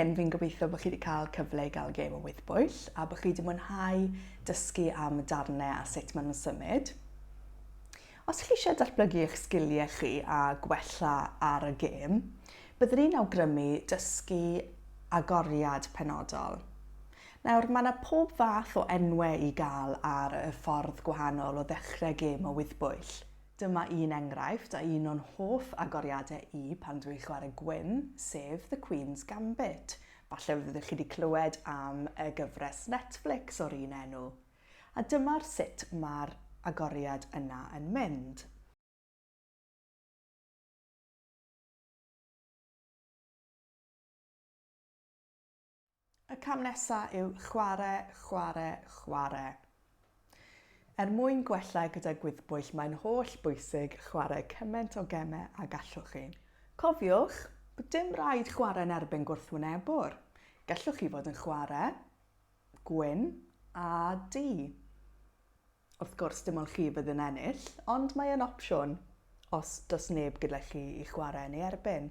hyn, fi'n gobeithio bod chi wedi cael cyfle i gael gêm o wythbwyll a bod chi wedi mwynhau dysgu am darnau a sut maen nhw'n symud. Os chi eisiau datblygu eich sgiliau chi a gwella ar y gêm, byddwn ni'n awgrymu dysgu agoriad penodol. Nawr, mae yna pob fath o enwau i gael ar y ffordd gwahanol o ddechrau gêm o wyddbwyll. Dyma un enghraifft a un o'n hoff agoriadau i pan dw i'n chwarae gwyn, sef The Queen's Gambit. Falle fyddwch chi wedi clywed am y gyfres Netflix o'r un enw. A dyma'r sut mae'r agoriad yna yn mynd. Y cam nesa yw chware, chware, chware. Er mwyn gwella gyda gwyddbwyll mae'n holl bwysig chware cyment o geme a gallwch chi. Cofiwch bod dim raid chware yn erbyn gwrthwynebwr. Gallwch chi fod yn chware Gwyn, a du. Wrth gwrs, dim ond chi fydd yn ennill, ond mae yn opsiwn os does neb gyda chi i chwarae yn ei erbyn.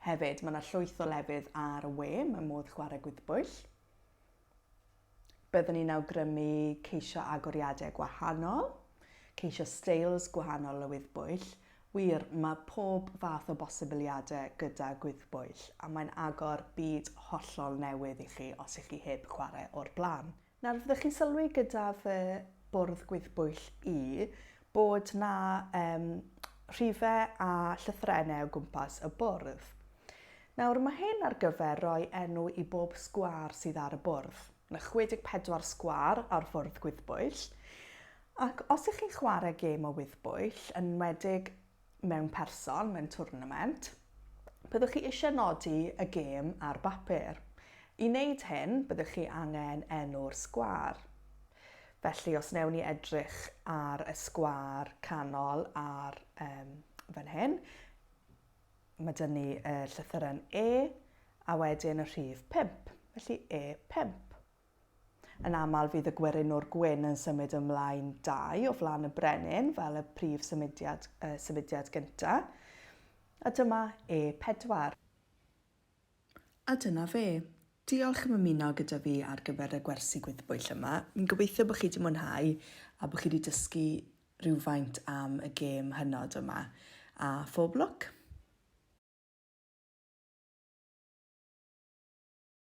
Hefyd, mae yna llwyth o lefydd ar y we, mae modd chwarae gwyddbwyll. Byddwn ni'n awgrymu ceisio agoriadau gwahanol, ceisio steils gwahanol o wyddbwyll, Wir, mae pob fath o bosibiliadau gyda gwyddbwyll, a mae'n agor byd hollol newydd i chi os ych chi heb chwarae o'r blaen. Nawr, fyddech chi'n sylwi gyda fy bwrdd gwyddbwyll i bod 'na um, rhifau a llythrennau o gwmpas y bwrdd. Nawr, mae hyn ar gyfer rhoi enw i bob sgwâr sydd ar y bwrdd. Mae 64 sgwâr ar fwrdd gwyddbwyll, Ac os ych chi'n chwarae gêm o wyddbwyll, yn enwedig mewn person, mewn twrnament, byddwch chi eisiau nodi y gêm ar bapur. I wneud hyn, byddwch chi angen enw'r sgwâr. Felly, os newn ni edrych ar y sgwâr canol ar um, fan hyn, mae dyn ni y llythyren E a wedyn y rhif 5, felly E5. Yn aml fydd y gwerinwr gwyn yn symud ymlaen dau o flaen y brenin fel y prif symudiad, y symudiad gynta. A dyma E4. A dyna fe. Diolch am ymuno gyda fi ar gyfer y gwersi gwyddbwyll yma. Fi'n gobeithio bod chi wedi mwynhau a bod chi wedi dysgu rhywfaint am y gêm hynod yma. A phob lwc!